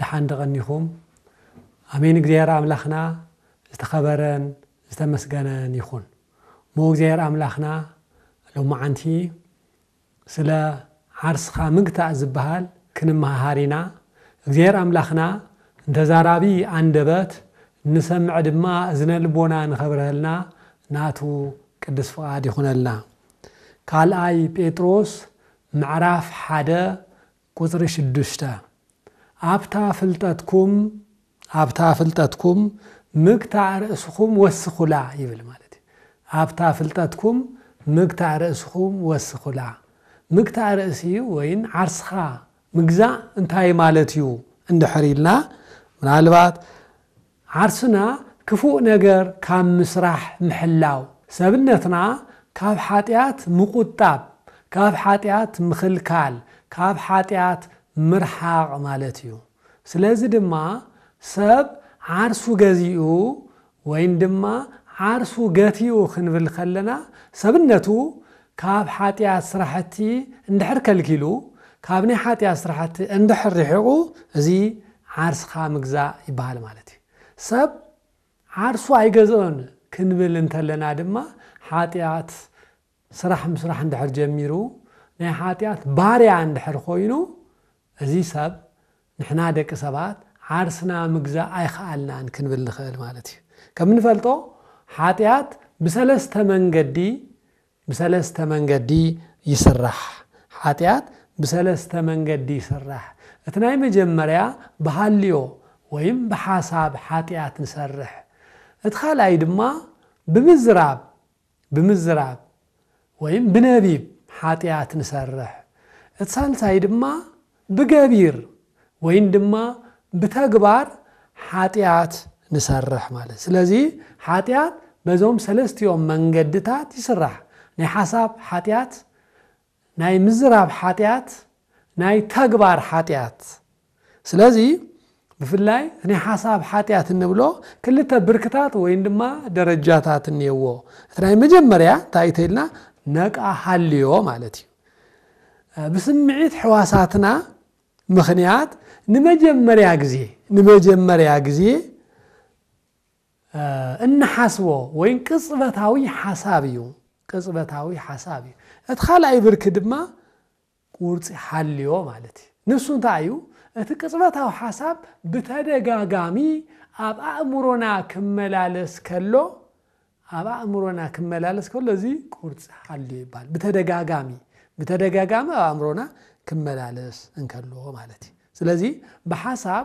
ደሓን ዶ ቀኒኹም ኣሜን እግዚኣብሔር ኣምላኽና ዝተኸበረን ዝተመስገነን ይኹን እሞ እግዚኣብሔር ኣምላኽና ሎማዓንቲ ስለ ዓርስኻ ምግታእ ዝበሃል ክንመሃሃር ኢና እግዚኣብሔር ኣምላኽና ንተዛራቢ ኣንደበት ንሰምዕ ድማ እዝነ ልቦና ንኸብረሀልና ናቱ ቅዱስ ፍቓድ ይኹነልና ካልኣይ ጴጥሮስ ምዕራፍ ሓደ ቍጽሪ ሽዱሽተ፣ ኣብታ ፍልጠትኩም፣ ኣብታ ፍልጠትኩም ምግታእ ርእስኹም ወስኹላ ይብል ማለት እዩ። ኣብታ ፍልጠትኩም ምግታእ ርእስኹም ወስኹላ። ምግታእ ርእሲ ወይን ዓርስኻ ምግዛእ እንታይ ማለት እዩ እንድሕር ኢልና ምናልባት ዓርስና ክፉእ ነገር ካብ ምስራሕ ምሕላው፣ ሰብነትና ካብ ሓጢኣት ምቑጣብ፣ ካብ ሓጢኣት ምኽልካል፣ ካብ ሓጢኣት ምርሓቕ ማለት እዩ። ስለዚ ድማ ሰብ ዓርሱ ገዚኡ ወይን ድማ ዓርሱ ገቲኡ ክንብል ከለና ሰብነቱ ካብ ሓጢኣት ስራሕቲ እንድሕር ከልኪሉ፣ ካብ ናይ ሓጢኣት ስራሕቲ እንድሕር ርሒቑ፣ እዚ ዓርስኻ ምግዛእ ይበሃል ማለት እዩ። ሰብ ዓርሱ ኣይገዝኦን ክንብል እንተለና ድማ ሓጢኣት ስራሕ ምስራሕ እንድሕር ጀሚሩ፣ ናይ ሓጢኣት ባርያ እንድሕር ኮይኑ እዚ ሰብ ንሕና ደቂ ሰባት ዓርስና ምግዛእ ኣይኸኣልናን ክንብል ንኽእል ማለት እዩ። ከም እንፈልጦ ሓጢኣት ብሰለስተ መንገዲ ብሰለስተ መንገዲ ይስራሕ። ሓጢኣት ብሰለስተ መንገዲ ይስራሕ። እቲ ናይ መጀመርያ ብሃልዮ ወይም ብሓሳብ ሓጢኣት ንሰርሕ። እቲ ካልኣይ ድማ ብምዝራብ ብምዝራብ ወይም ብነቢብ ሓጢኣት ንሰርሕ። እቲ ሳልሳይ ድማ ብገቢር ወይን ድማ ብተግባር ሓጢኣት ንሰርሕ ማለት። ስለዚ ሓጢኣት በዞም ሰለስቲኦም መንገድታት ይስራሕ። ናይ ሓሳብ ሓጢኣት፣ ናይ ምዝራብ ሓጢኣት ናይ ተግባር ሓጢኣት ስለዚ ብፍላይ ናይ ሓሳብ ሓጢኣት እንብሎ ክልተ ብርክታት ወይን ድማ ደረጃታት እኒየዎ እቲ ናይ መጀመርያ እንታይ እዩ ተይልና ነቃ ሃልዮ ማለት እዩ ብስምዒት ሕዋሳትና ምክንያት ንመጀመርያ ግዜ ንመጀመርያ ግዜ እንሓስቦ ወይ ቅጽበታዊ ሓሳብ እዩ፣ ቅጽበታዊ ሓሳብ እዩ። እቲ ካልኣይ ብርኪ ድማ ቁርጺ ሓልዮ ማለት እዩ። ንሱ እንታይ እዩ? እቲ ቅጽበታዊ ሓሳብ ብተደጋጋሚ ኣብ ኣእምሮና ክመላለስ ከሎ ኣብ ኣእምሮና ክመላለስ ከሎ እዚ ቁርጺ ሓልዮ ይበሃል። ብተደጋጋሚ ብተደጋጋሚ ኣብ ኣእምሮና ክመላለስ እንከሎ ማለት እዩ። ስለዚ ብሓሳብ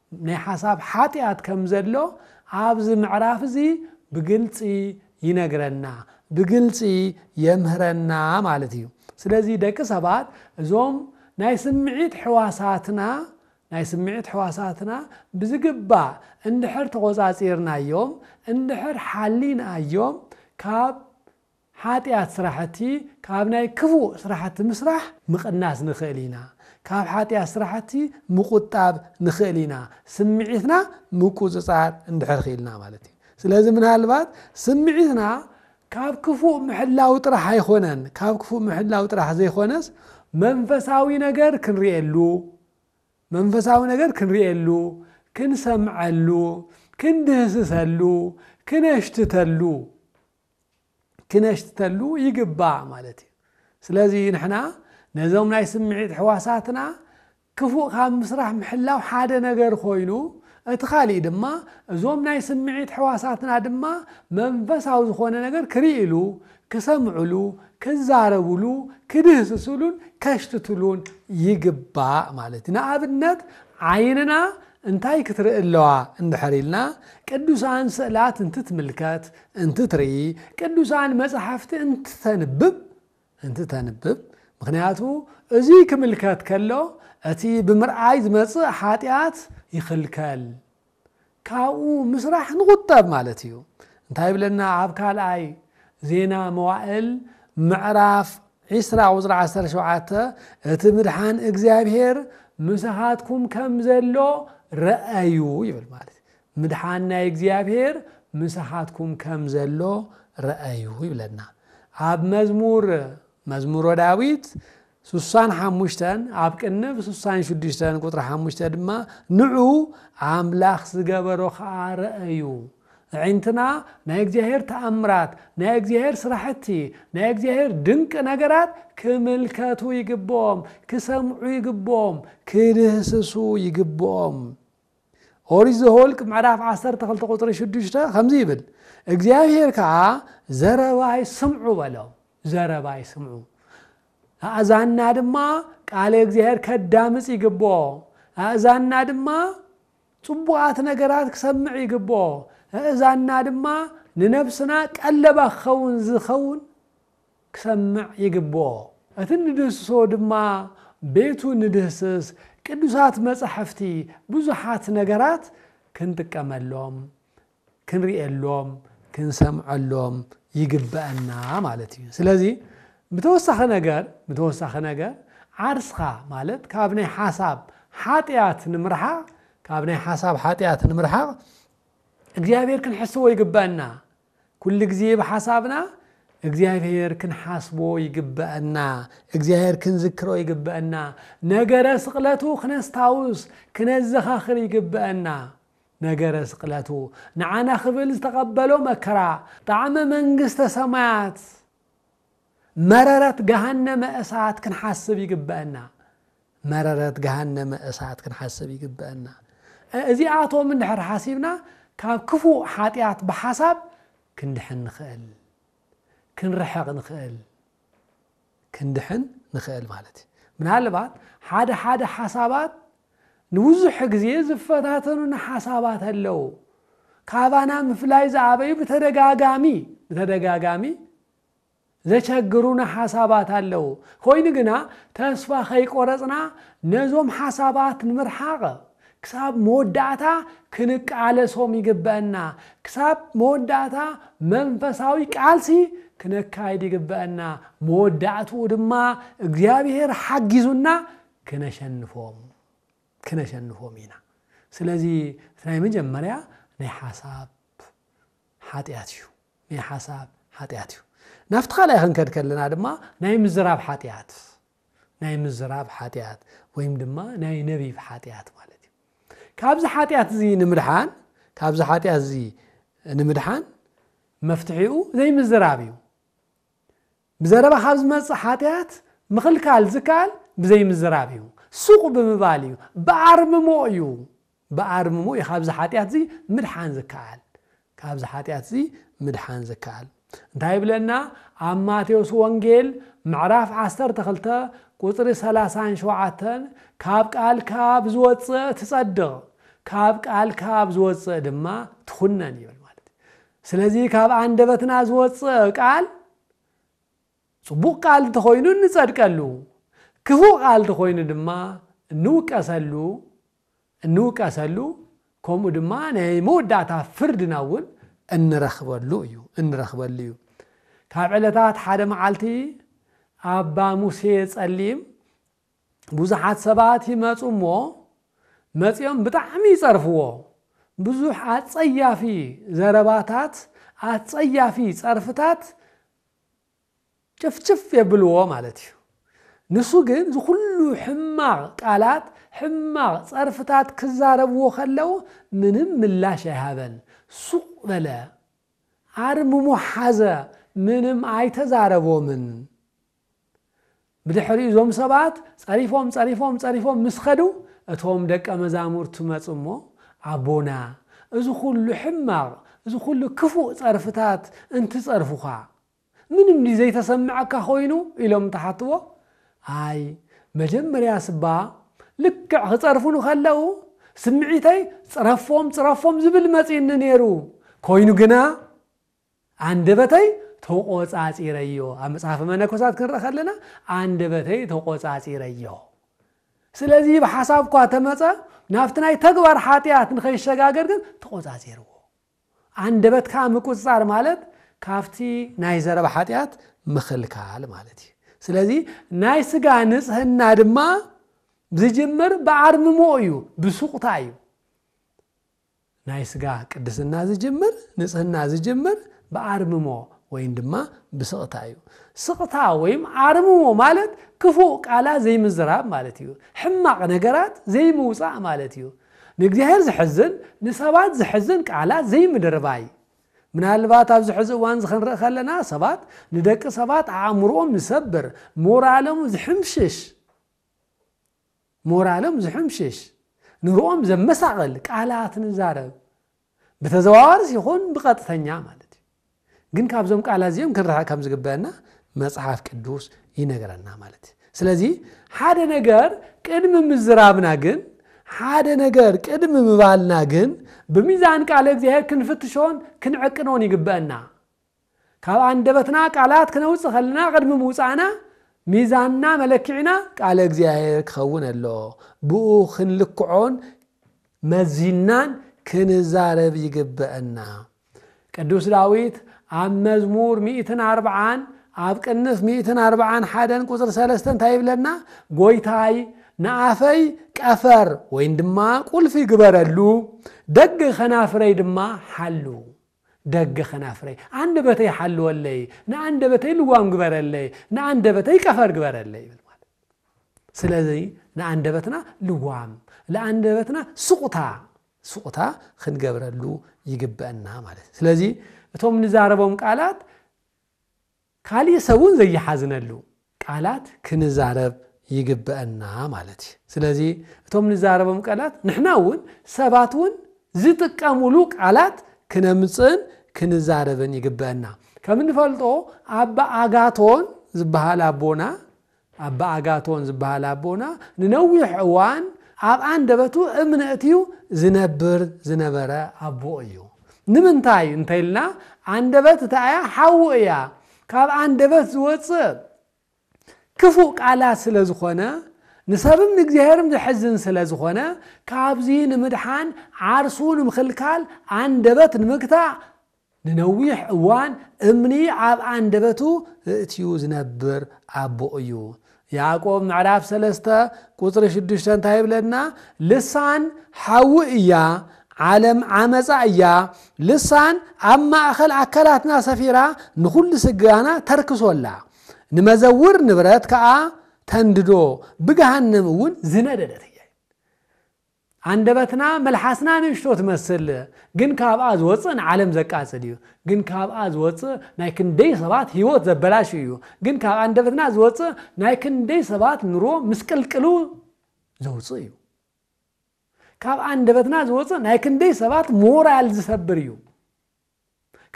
ናይ ሓሳብ ሓጢኣት ከም ዘሎ ኣብዚ ምዕራፍ እዚ ብግልፂ ይነግረና፣ ብግልፂ የምህረና ማለት እዩ። ስለዚ ደቂ ሰባት እዞም ናይ ስምዒት ሕዋሳትና ናይ ስምዒት ሕዋሳትና ብዝግባእ እንድሕር ተቖፃፂርናዮም፣ እንድሕር ሓሊናዮም ካብ ሓጢኣት ስራሕቲ ካብ ናይ ክፉእ ስራሕቲ ምስራሕ ምቕናስ ንኽእል ኢና። ካብ ሓጢኣት ስራሕቲ ምቑጣብ ንኽእል ኢና ስምዒትና ምቁጽጻር እንድሕር ኽኢልና ማለት እዩ። ስለዚ ምናልባት ስምዒትና ካብ ክፉእ ምሕላው ጥራሕ ኣይኾነን ካብ ክፉእ ምሕላው ጥራሕ ዘይኾነስ መንፈሳዊ ነገር ክንርእየሉ መንፈሳዊ ነገር ክንርእየሉ ክንሰምዐሉ ክንድህስሰሉ ክነሽትተሉ ክነሽተሉ ይግባእ ማለት እዩ ስለዚ ንሕና ነዞም ናይ ስምዒት ሕዋሳትና ክፉእ ካብ ምስራሕ ምሕላው ሓደ ነገር ኮይኑ እቲ ካሊእ ድማ እዞም ናይ ስምዒት ሕዋሳትና ድማ መንፈሳዊ ዝኾነ ነገር ክርእሉ ክሰምዕሉ ክዛረብሉ ክድህስስሉን ከሽትትሉን ይግባእ ማለት እዩ ንኣብነት ዓይንና እንታይ ክትርኢ ኣለዋ እንድሕር ኢልና ቅዱሳን ስእላት እንትትምልከት፣ እንትትርኢ፣ ቅዱሳን መጻሕፍቲ እንትተንብብ፣ እንትተንብብ፣ ምኽንያቱ እዙይ ክምልከት ከሎ እቲ ብምርኣይ ዝመጽእ ሓጢኣት ይኽልከል፣ ካብኡ ምስራሕ ንቑጠብ ማለት እዩ። እንታይ ይብለና ኣብ ካልኣይ ዜና መዋእል ምዕራፍ ዒስራ ቁጽሪ ዓሰርተ ሸውዓተ እቲ ምድሓን እግዚኣብሔር ምሳኻትኩም ከም ዘሎ ረኣዩ ይብል ማለት እዩ። ምድሓን ናይ እግዚኣብሔር ምሳኻትኩም ከም ዘሎ ረኣዩ ይብለና ኣብ መዝሙር መዝሙሮ ዳዊት ስሳን ሓሙሽተን ኣብ ቅንብ ስሳን ሽዱሽተን ቁጥሪ ሓሙሽተ ድማ ንዑ ኣምላኽ ዝገበሮ ከዓ ረኣዩ ኣዒንትና ናይ እግዚኣብሄር ተኣምራት፣ ናይ እግዚኣብሄር ስራሕቲ፣ ናይ እግዚኣብሄር ድንቂ ነገራት ክምልከቱ ይግብኦም፣ ክሰምዑ ይግብኦም፣ ክድህስሱ ይግብኦም። ኦሪት ዘኍልቍ ምዕራፍ ዓሰርተ ክልተ ቁፅሪ ሽዱሽተ ከምዚ ይብል፣ እግዚኣብሄር ከዓ ዘረባይ ስምዑ በሎም፣ ዘረባይ ስምዑ፣ ኣእዛንና ድማ ቃለ እግዚኣብሄር ከዳምፅ ይግብኦ፣ ኣእዛንና ድማ ጽቡቓት ነገራት ክሰምዕ ይግብኦ፣ ኣእዛንና ድማ ንነፍስና ቀለባ ክኸውን ዝኸውን ክሰምዕ ይግብኦ። እቲ እንድህስሶ ድማ ቤቱ ንድህስስ፣ ቅዱሳት መጻሕፍቲ፣ ብዙሓት ነገራት ክንጥቀመሎም ክንርእየሎም ክንሰምዐሎም ይግበእና ማለት እዩ ስለዚ ብተወሳኺ ነገር ብተወሳኺ ነገር ዓርስኻ ማለት ካብ ናይ ሓሳብ ሓጢኣት ንምርሓቕ ካብ ናይ ሓሳብ ሓጢኣት ንምርሓቕ እግዚኣብሔር ክንሕስቦ ይግበአና ኩሉ ግዜ ብሓሳብና እግዚኣብሔር ክንሓስቦ ይግበአና እግዚኣብሔር ክንዝክሮ ይግበአና ነገረ ስቕለቱ ክነስታውስ ክነዘኻኽር ይግበአና ነገረ ስቅለቱ ንዓና ክብል ዝተቀበሎ መከራ ጣዕመ መንግስተ ሰማያት መረረት ገሃነመ እሳት ክንሓስብ ይግበእና መረረት ገሃነመ እሳት ክንሓስብ ይግበእና እዚኣቶም እንድሕር ሓሲብና ካብ ክፉእ ሓጢኣት ብሓሳብ ክንድሕን ንኽእል ክንርሕቕ ንኽእል ክንድሕን ንኽእል ማለት እዩ። ምናልባት ሓደ ሓደ ሓሳባት ንብዙሕ ግዜ ዝፈታተኑና ሓሳባት ኣለው። ካባና ምፍላይ ዝኣበዩ ብተደጋጋሚ ብተደጋጋሚ ዘቸግሩና ሓሳባት ኣለው። ኮይኑ ግና ተስፋ ከይቆረጽና ነዞም ሓሳባት ንምርሓቕ ክሳብ መወዳእታ ክንቃለሶም ይግበእና። ክሳብ መወዳእታ መንፈሳዊ ቃልሲ ክነካይድ ይግበእና። መወዳእትኡ ድማ እግዚኣብሄር ሓጊዙና ክነሸንፎም ክነሸንፎም ኢና። ስለዚ እቲ ናይ መጀመርያ ናይ ሓሳብ ሓጢኣት እዩ። ናይ ሓሳብ ሓጢኣት እዩ። ናብቲ ካልኣይ ክንከድ ከለና ድማ ናይ ምዝራብ ሓጢኣት ናይ ምዝራብ ሓጢኣት ወይም ድማ ናይ ነቢብ ሓጢኣት ማለት እዩ ካብዚ ሓጢኣት እዚ ንምድሓን ካብዚ ሓጢኣት እዚ ንምድሓን መፍትሒኡ ዘይምዝራብ እዩ ብዘረባ ካብ ዝመፅእ ሓጢኣት ምኽልካል ዝከኣል ብዘይምዝራብ እዩ ሱቕ ብምባል እዩ ብኣርምሞ እዩ ብኣርምሞ እዩ ካብዚ ሓጢኣትዚ ምድሓን ዝከኣል። ካብዚ ሓጢኣትዚ ምድሓን ዝከኣል። እንታይ ይብለና ኣብ ማቴዎስ ወንጌል ምዕራፍ ዓሰርተ ክልተ ቁጽሪ ሰላሳን ሸውዓተን ካብ ቃልካ ብዝወጽእ ትጸድቕ ካብ ቃልካ ብዝወጽእ ድማ ትኹነን ይብል ማለት እዩ። ስለዚ ካብ ኣንደበትና ዝወጽእ ቃል ጽቡቕ ቃል እንተኾይኑ እንጸድቀሉ፣ ክፉእ ቃል እንተኾይኑ ድማ እንውቀሰሉ እንውቀሰሉ ከምኡ ድማ ናይ መወዳእታ ፍርድና እውን እንረኽበሉ እዩ እንረኽበሉ እዩ ካብ ዕለታት ሓደ መዓልቲ ኣባ ሙሴ ጸሊም ብዙሓት ሰባት ይመፁ እሞ መፂኦም ብጣዕሚ ይፀርፍዎ ብዙሕ ኣጸያፊ ዘረባታት ኣጸያፊ ጸርፍታት ጭፍጭፍ የብልዎ ማለት እዩ ንሱ ግን እዚ ኩሉ ሕማቅ ቃላት ሕማቅ ጸርፍታት ክዛረብዎ ከለው ምንም ምላሽ ኣይሃበን ሱቅ በለ ኣርምሞ ሓዘ ምንም ኣይተዛረቦምን ብድሕሪኡ እዞም ሰባት ጸሪፎም ጸሪፎም ጸሪፎም ምስ ከዱ እቶም ደቀ መዛሙርቱ መጹ እሞ ኣቦና እዚ ኩሉ ሕማቅ እዚ ኩሉ ክፉእ ጸርፍታት እንትጸርፉኻ ምንም ድዩ ዘይተሰመዐካ ኮይኑ ኢሎም እንትሓትዎ ኣይ መጀመርያስ እባ ልክዕ ክጸርፉኒ ከለው ስምዒተይ ጽረፎም ጽረፎም ዝብል መጺኡኒ ኔሩ ኮይኑ ግና ኣንደበተይ ተቖጻጺረዮ ኣብ መጽሓፈ መነኮሳት ክንርኢ ከለና ኣንደበተይ ተቖጻጺረዮ ስለዚ ብሓሳብ እኳ ተመጸ ናብቲ ናይ ተግባር ሓጢኣት ንኸይሸጋገር ግን ተቖጻጺርዎ ኣንደበትካ ምቁጽጻር ማለት ካብቲ ናይ ዘረባ ሓጢኣት ምኽልካል ማለት እዩ። ስለዚ ናይ ስጋ ንጽህና ድማ ዝጅምር ብኣርምሞ እዩ፣ ብሱቕታ እዩ። ናይ ስጋ ቅድስና ዝጅምር ንጽህና ዝጅምር ብኣርምሞ ወይም ድማ ብስቕታ እዩ። ስቕታ ወይም ኣርምሞ ማለት ክፉእ ቃላት ዘይምዝራብ ማለት እዩ። ሕማቕ ነገራት ዘይምውጻእ ማለት እዩ። ንእግዚኣብሔር ዘሕዝን ንሰባት ዘሕዝን ቃላት ዘይምድርባይ። ምናልባት ኣብዚ ሕዚ እዋን እዚ ክንርኢ ከለና ሰባት ንደቂ ሰባት ኣእምሮኦም ዝሰብር ሞራሎም ዝሕምሽሽ ሞራሎም ዝሕምሽሽ ንርኦም ዘመሳቕል ቃላት ንዛረብ ብተዘዋዋርስ ይኹን ብቐጥተኛ ማለት እዩ። ግን ካብዞም ቃላት እዚኦም ክንርሕቕ ከም ዝግበአና መጽሓፍ ቅዱስ ይነግረና ማለት እዩ። ስለዚ ሓደ ነገር ቅድሚ ምዝራብና ግን ሓደ ነገር ቅድሚ ምባልና ግን ብሚዛን ቃለ እግዚኣብሔር ክንፍትሾን ክንዕቅኖን ይግበአና። ካብ ኣንደበትና ቃላት ክነውጽእ ከለና ቅድሚ ምውጻእና ሚዛንና መለክዒና ቃለ እግዚኣብሔር ክኸውን ኣለዎ። ብኡ ክንልክዖን መዚንናን ክንዛረብ ይግበእና። ቅዱስ ዳዊት ኣብ መዝሙር ሚእትን ኣርብዓን ኣብ ቅንፍ ሚእትን ኣርብዓን ሓደን ቁጽሪ ሰለስተ እንታይ ይብለና? ጎይታይ ንኣፈይ ቀፈር ወይን ድማ ቁልፊ ግበረሉ፣ ደግ ኸናፍረይ ድማ ሓሉ። ደገ ከናፍረይ ኣንደበተይ ሓልወለይ ንኣንደበተይ ልጓም ግበረለይ ንኣንደበተይ ቀፈር ግበረለይ ይብል ማለት ስለዚ ንኣንደበትና ልጓም ንኣንደበትና ስቁታ ስቁታ ክንገብረሉ ይግበአና ማለት እዩ ስለዚ እቶም ንዛረቦም ቃላት ካሊእ ሰብ እውን ዘይሓዝነሉ ቃላት ክንዛረብ ይግበእና ማለት እዩ። ስለዚ እቶም ንዛረቦም ቃላት ንሕና እውን ሰባት እውን ዝጥቀምሉ ቃላት ክነምፅእን ክንዛረብን ይግበእና። ከም እንፈልጦ ኣባ ኣጋቶን ዝበሃል ኣቦና ኣባ ኣጋቶን ዝበሃል ኣቦና ንነዊሕ እዋን ኣብ ኣንደበቱ እምኒ ኣእትዩ ዝነብር ዝነበረ ኣቦ እዩ። ንምንታይ እንተኢልና ኣንደበት እታይ እያ ሓዊ እያ ካብ ኣንደበት ዝወጽእ ክፉእ ቃላት ስለ ዝኾነ ንሰብም ንእግዚኣብሔርም ዘሕዝን ስለ ዝኾነ ካብዚ ንምድሓን ዓርሱ ንምኽልካል ኣንደበት ንምግታእ ንነዊሕ እዋን እምኒ ኣብ ኣንደበቱ እእትዩ ዝነብር ኣቦ እዩ። ያዕቆብ ምዕራፍ ሰለስተ ቁጽሪ ሽዱሽተ እንታይ ይብለና? ልሳን ሓዊ እያ፣ ዓለም ዓመጻ እያ፣ ልሳን ኣብ ማእከል ኣካላትና ሰፊራ ንኹሉ ስጋና ተርክሶ ኣላ፣ ንመዘውር ንብረት ከኣ ተንድዶ፣ ብገሃነም እውን ዝነደደት እያ። ኣንደበትና መልሓስና ንእሽቶ ትመስል ግን ካብኣ ዝወጽእ ንዓለም ዘቃጽል እዩ ግን ካብኣ ዝወጽእ ናይ ክንደይ ሰባት ሂወት ዘበላሹ እዩ ግን ካብ ኣንደበትና ዝወጽእ ናይ ክንደይ ሰባት ንሮ ምስቅልቅሉ ዘውጽእ እዩ ካብ ኣንደበትና ዝወጽእ ናይ ክንደይ ሰባት ሞራል ዝሰብር እዩ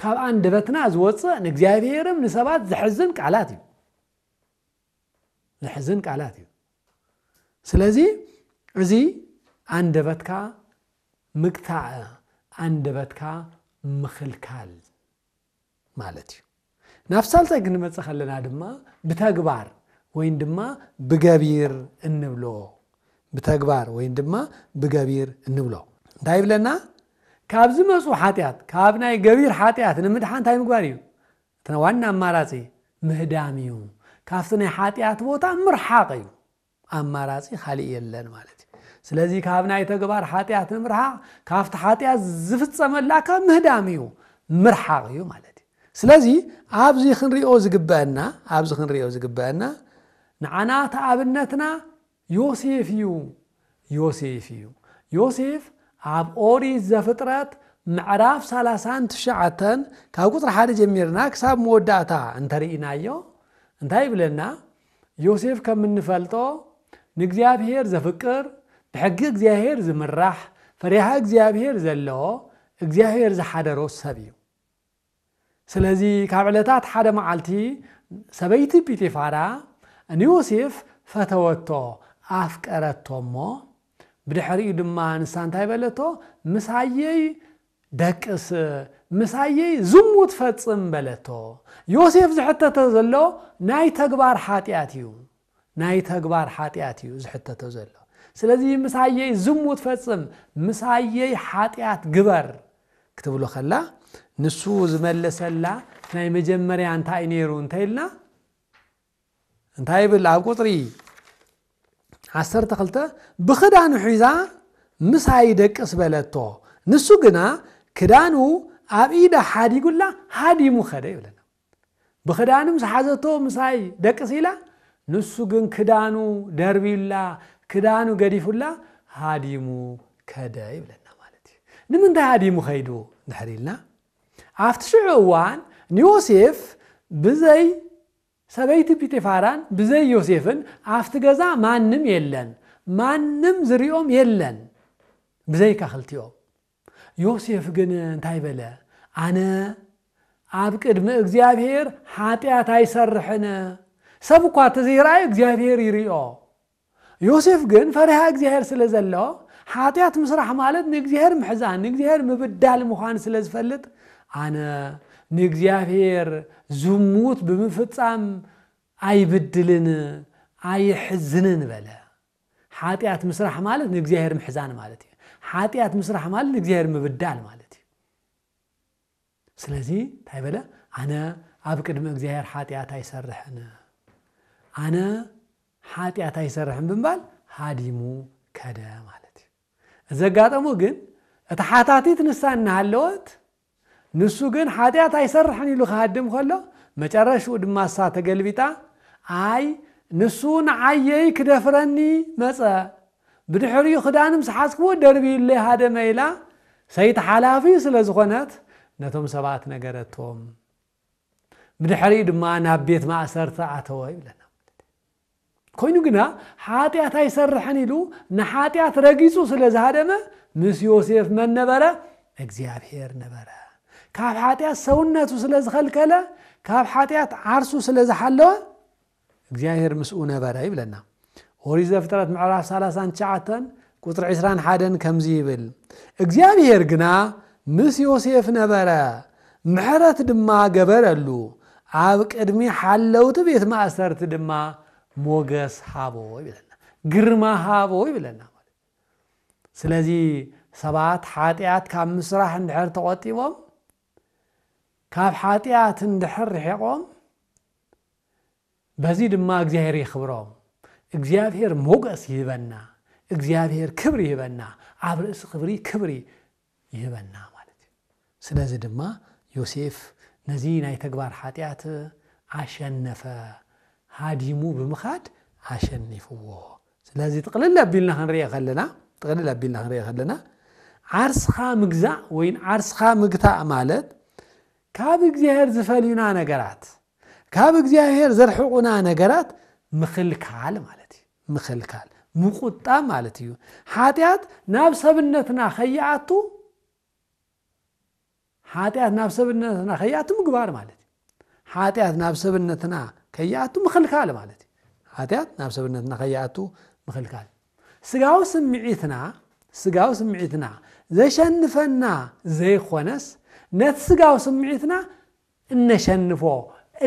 ካብ ኣንደበትና ዝወጽእ ንእግዚኣብሔርም ንሰባት ዝሕዝን ቃላት እዩ ዘሕዝን ቃላት እዩ ስለዚ እዚ ኣንደበትካ ምግታእ ኣንደበትካ ምኽልካል ማለት እዩ ናብ ሳልሳይ ክንመፅእ ከለና ድማ ብተግባር ወይን ድማ ብገቢር እንብሎ ብተግባር ወይን ድማ ብገቢር እንብሎ እንታይ ይብለና ካብ ዝመፁ ሓጢኣት ካብ ናይ ገቢር ሓጢኣት ንምድሓን እንታይ ምግባር እዩ እቲ ዋና ኣማራጺ ምህዳም እዩ። ካብቲ ናይ ሓጢኣት ቦታ ምርሓቕ እዩ። ኣማራጺ ካልእ የለን ማለት እዩ። ስለዚ ካብ ናይ ተግባር ሓጢኣት ንምርሓቕ ካብቲ ሓጢኣት ዝፍጸመላካ ምህዳም እዩ፣ ምርሓቕ እዩ ማለት እዩ። ስለዚ ኣብዚ ክንሪኦ ዝግበአና ኣብዚ ክንሪኦ ዝግበአና ንዓና እቲ ኣብነትና ዮሴፍ እዩ ዮሴፍ እዩ ዮሴፍ ኣብ ኦሪት ዘፍጥረት ምዕራፍ ሰላሳን ትሽዓተን ካብ ቁፅሪ ሓደ ጀሚርና ክሳብ መወዳእታ እንተርኢናዮ እንታይ ይብለና ዮሴፍ ከም እንፈልጦ ንእግዚኣብሄር ዘፍቅር ብሕጊ እግዚኣብሄር ዝምራሕ ፈሪሃ እግዚኣብሄር ዘለዎ እግዚኣብሄር ዝሓደሮ ሰብ እዩ ስለዚ ካብ ዕለታት ሓደ መዓልቲ ሰበይቲ ጲጢፋራ ንዮሴፍ ፈተወቶ፣ ኣፍቀረቶ እሞ፣ ብድሕሪኡ ድማ ንሳ እንታይ በለቶ፣ ምሳየይ ደቅስ፣ ምሳየይ ዝሙት ፈጽም በለቶ። ዮሴፍ ዝሕተቶ ዘሎ ናይ ተግባር ሓጢኣት እዩ። ናይ ተግባር ሓጥያት እዩ ዝሕተቶ ዘሎ ስለዚ ምሳየይ ዝሙት ፈጽም ምሳየይ ሓጥያት ግበር ክትብሎ ከላ ንሱ ዝመለሰላ ናይ መጀመርያ እንታይ ነይሩ እንተይልና እንታይ ይብል ኣብ ቁፅሪ ዓሰርተ ክልተ ብክዳኑ ሒዛ ምሳይ ደቅስ በለቶ ንሱ ግና ክዳኑ ኣብ ኢዳ ሓዲጉላ ሃዲሙ ከደ ይብለና ብክዳንም ዝሓዘቶ ምሳይ ደቅስ ኢላ ንሱ ግን ክዳኑ ደርብዩላ ክዳኑ ገዲፉላ ሃዲሙ ከደ ይብለና ማለት እዩ። ንምንታይ ሃዲሙ ከይዱ እንድሕር ኢልና ኣብቲ ሽዑ እዋን ንዮሴፍ ብዘይ ሰበይቲ ጲጢፋራን ብዘይ ዮሴፍን ኣብቲ ገዛ ማንም የለን፣ ማንም ዝሪኦም የለን ብዘይካ ክልቲኦም። ዮሴፍ ግን እንታይ በለ? ኣነ ኣብ ቅድሚ እግዚኣብሄር ሓጢኣት ኣይሰርሕን፣ ሰብ እኳ ተዘይረኣይ እግዚኣብሄር ይሪኦ። ዮሴፍ ግን ፈሪሃ እግዚኣብሄር ስለ ዘለዎ ሓጢኣት ምስራሕ ማለት ንእግዚኣብሄር ምሕዛን ንእግዚኣብሄር ምብዳል ምዃን ስለ ዝፈልጥ ኣነ ንእግዚኣብሄር ዝሙት ብምፍጻም ኣይብድልን ኣይሕዝንን በለ። ሓጢኣት ምስራሕ ማለት ንእግዚኣብሔር ምሕዛን ማለት እዩ። ሓጢኣት ምስራሕ ማለት ንእግዚኣብሔር ምብዳል ማለት እዩ። ስለዚ እንታይ በለ? ኣነ ኣብ ቅድሚ እግዚኣብሔር ሓጢኣት ኣይሰርሕን። ኣነ ሓጢኣት ኣይሰርሕን ብምባል ሃዲሙ ከደ ማለት እዩ። እዚ ኣጋጠሞ ግን እቲ ሓታቲት ንሳ እናሃለወት ንሱ ግን ሓጢኣት ኣይሰርሕን ኢሉ ክሃድም ከሎ፣ መጨረሽኡ ድማ እሳ ተገልቢጣ፣ ኣይ ንሱ ንዓየይ ክደፍረኒ መጸ፣ ብድሕሪኡ ክዳን ምስ ሓዝክዎ ደርብዩለይ ሃደመ ኢላ ሰይቲ ሓላፊ ስለ ዝኾነት ነቶም ሰባት ነገረቶም። ብድሕሪኡ ድማ ናብ ቤት ማእሰርቲ ኣተወ ይብለና ማለት እዩ። ኮይኑ ግና ሓጢኣት ኣይሰርሕን ኢሉ ንሓጢኣት ረጊጹ ስለ ዝሃደመ ምስ ዮሴፍ መን ነበረ? እግዚኣብሄር ነበረ። ካብ ሓጢኣት ሰውነቱ ስለ ዝኸልከለ ካብ ሓጢኣት ዓርሱ ስለ ዝሓለወ እግዚኣብሄር ምስኡ ነበረ ይብለና። ኦሪት ዘፍጥረት ምዕራፍ ሰላሳን ትሽዓተን ቁፅሪ ዕስራን ሓደን ከምዚ ይብል፣ እግዚኣብሄር ግና ምስ ዮሴፍ ነበረ፣ ምሕረት ድማ ገበረሉ፣ ኣብ ቅድሚ ሓለውቲ ቤት ማእሰርቲ ድማ ሞገስ ሃቦ ይብለና፣ ግርማ ሃቦ ይብለና። ስለዚ ሰባት ሓጢኣት ካብ ምስራሕ እንድሕር ተቖጢቦም ካብ ሓጢኣት እንድሕር ርሒቖም በዚ ድማ እግዚኣብሔር የኽብሮም እግዚኣብሔር ሞገስ ይህበና እግዚኣብሔር ክብሪ ይህበና ኣብ ርእሲ ክብሪ ክብሪ ይህበና ማለት እዩ ስለዚ ድማ ዮሴፍ ነዚ ናይ ተግባር ሓጢኣት ኣሸነፈ ሃዲሙ ብምኻድ ኣሸኒፍዎ ስለዚ ጥቕልል ኣቢልና ክንሪኦ ከለና ጥቕልል ኣቢልና ክንሪኦ ከለና ዓርስኻ ምግዛእ ወይ ዓርስኻ ምግታእ ማለት ካብ እግዚኣብሔር ዝፈልዩና ነገራት ካብ እግዚኣብሔር ዘርሕቑና ነገራት ምኽልካል ማለት እዩ ምኽልካል ምቁጣ ማለት እዩ ሓጢኣት ናብ ሰብነትና ከይኣቱ ሓጢኣት ናብ ሰብነትና ከይኣቱ ምግባር ማለት እዩ ሓጢኣት ናብ ሰብነትና ከይኣቱ ምኽልካል ማለት እዩ ሓጢኣት ናብ ሰብነትና ከይኣቱ ምኽልካል ስጋዊ ስምዒትና ስጋዊ ስምዒትና ዘሸንፈና ዘይኮነስ ነቲ ስጋዊ ስምዒትና እነሸንፎ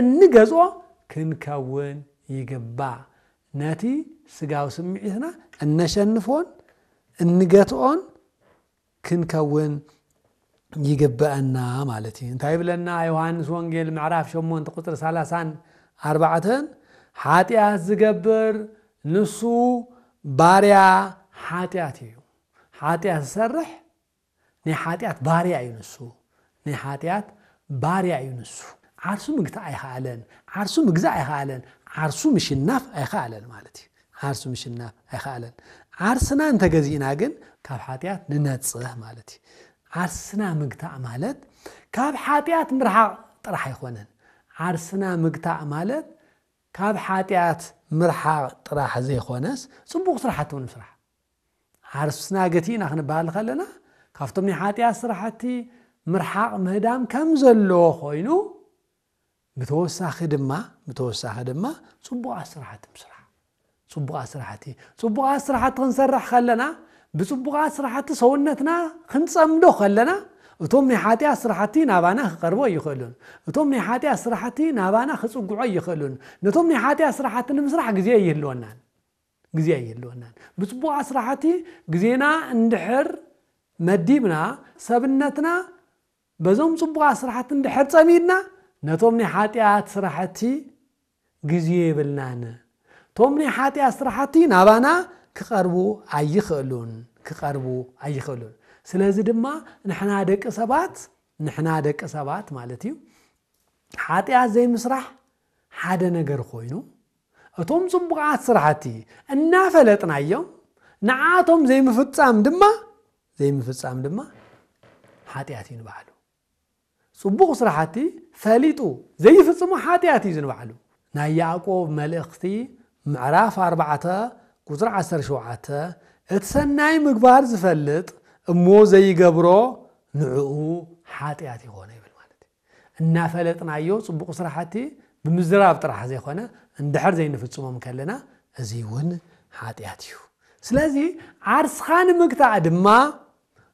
እንገጾ ክንከውን ይግባእ ነቲ ስጋዊ ስምዒትና እነሸንፎን እንገትኦን ክንከውን ይግበእና ማለት እዩ እንታይ ይብለና ዮሃንስ ወንጌል ምዕራፍ ሸሞንተ ቁፅሪ ሰላሳን ኣርባዕተን ሓጢኣት ዝገብር ንሱ ባርያ ሓጢኣት እዩ ሓጢኣት ዝሰርሕ ናይ ሓጢኣት ባርያ እዩ ንሱ ናይ ሓጢኣት ባርያ እዩ ንሱ። ዓርሱ ምግታእ ኣይኸኣለን፣ ዓርሱ ምግዛእ ኣይኸኣለን፣ ዓርሱ ምሽናፍ ኣይኸኣለን ማለት እዩ። ዓርሱ ምሽናፍ ኣይኸኣለን። ዓርስና እንተገዚእና ግን ካብ ሓጢኣት ንነጽህ ማለት እዩ። ዓርስና ምግታእ ማለት ካብ ሓጢኣት ምርሓቕ ጥራሕ ኣይኮነን። ዓርስና ምግታእ ማለት ካብ ሓጢኣት ምርሓቕ ጥራሕ ዘይኮነስ ጽቡቕ ስራሕቲ እውን ምስራሕ። ዓርስና ገቲእና ክንበሃል ከለና ካብቶም ናይ ሓጢኣት ስራሕቲ ምርሓቕ ምህዳም ከም ዘለዎ ኮይኑ ብተወሳኺ ድማ ብተወሳኺ ድማ ፅቡቓት ስራሕቲ ምስራሕ ፅቡቓት ስራሕቲ ፅቡቓት ስራሕቲ ክንሰርሕ ከለና ብፅቡቓት ስራሕቲ ሰውነትና ክንፀምዶ ከለና እቶም ናይ ሓጢኣት ስራሕቲ ናባና ክቐርቦ ኣይኽእሉን እቶም ናይ ሓጢኣት ስራሕቲ ናባና ክፅግዖ ኣይኽእሉን ነቶም ናይ ሓጢኣት ስራሕቲ ንምስራሕ ግዜ ኣይህልወናን ግዜ ኣየለወናን ብጽቡቕ ኣስራሓቲ ግዜና እንድሕር መዲብና ሰብነትና በዞም ጽቡቕ ኣስራሓቲ እንድሕር ጸሚድና ነቶም ናይ ሓጥያት ስራሕቲ ግዜ የብልናን እቶም ናይ ሓጥያት ስራሕቲ ናባና ክቐርቡ ኣይኽእሉን ክቐርቡ ኣይኽእሉን ስለዚ ድማ ንሕና ደቂ ሰባት ንሕና ደቂ ሰባት ማለት እዩ ሓጢኣት ዘይምስራሕ ሓደ ነገር ኮይኑ እቶም ጽቡቓት ስራሕቲ እናፈለጥናዮም ንዓኣቶም ዘይምፍጻም ድማ ዘይምፍጻም ድማ ሓጢኣት እዩ ንባዕሉ። ጽቡቕ ስራሕቲ ፈሊጡ ዘይፍጽሞ ሓጢኣት እዩ ዝንባዕሉ። ናይ ያዕቆብ መልእኽቲ ምዕራፍ ኣርባዕተ ቁጽሪ ዓሰርተ ሸውዓተ እቲ ሰናይ ምግባር ዝፈልጥ እሞ ዘይገብሮ ንዕኡ ሓጢኣት ይኾኖ ይብል ማለት እዩ። እናፈለጥናዮ ፅቡቕ ስራሕቲ ብምዝራብ ጥራሕ ዘይኮነ እንድሕር ዘይንፍፅሞም ከለና እዙይ እውን ሓጥያት እዩ። ስለዚ ዓርስኻ ንምግታእ ድማ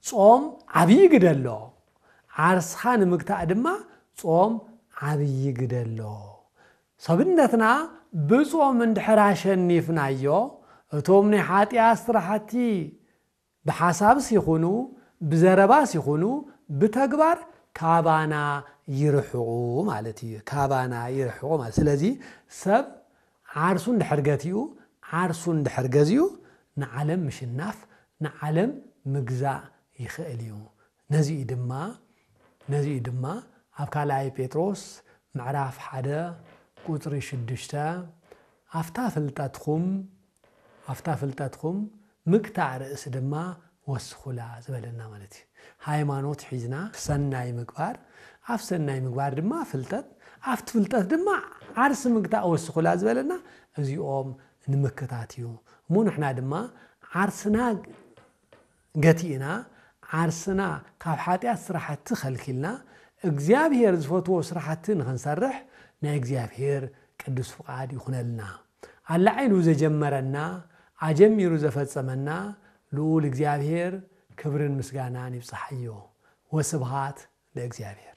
ፆም ዓብዪ ግደ ኣለዎ። ዓርስኻ ንምግታእ ድማ ፆም ዓብዪ ግደ ኣለዎ። ሰብነትና ብፆም እንድሕር ኣሸኒፍናዮ እቶም ናይ ሓጥያት ስራሕቲ ብሓሳብስ ይኹኑ ብዘረባስ ይኹኑ ብተግባር ካባና ይርሕቑ ማለት ኢዩ። ካባና ይርሕቑ ማለት ስለዚ ሰብ ዓርሱ እንድሕር ገቲኡ ዓርሱ እንድሕር ገዚኡ ንዓለም ምሽናፍ ንዓለም ምግዛእ ይኽእል ኢዩ። ነዚ ኢዩ ድማ ነዚ ኢዩ ድማ ኣብ ካልኣይ ጴጥሮስ ምዕራፍ ሓደ ቁጽሪ ሽዱሽተ ኣፍታ ፍልጠትኩም ኣፍታ ፍልጠትኩም ምግታእ ርእሲ ድማ ወስኹላ ዝበለና ማለት እዩ። ሃይማኖት ሒዝና ሰናይ ምግባር፣ ኣፍ ሰናይ ምግባር ድማ ፍልጠት፣ ኣፍቲ ፍልጠት ድማ ዓርሲ ምግታእ ወስኹላ ዝበለና እዚኦም ንምክታት እዩ። እሞ ንሕና ድማ ዓርስና ገቲእና ዓርስና ካብ ሓጢኣት ስራሕቲ ከልኪልና እግዚኣብሄር ዝፈትዎ ስራሕቲ ንክንሰርሕ ናይ እግዚኣብሄር ቅዱስ ፍቃድ ይኩነልና። ኣላዒሉ ዘጀመረና ኣጀሚሩ ዘፈጸመና ልኡል እግዚኣብሄር ክብርን ምስጋናን ይብጻሓዮ። ወስብሃት ለእግዚኣብሄር።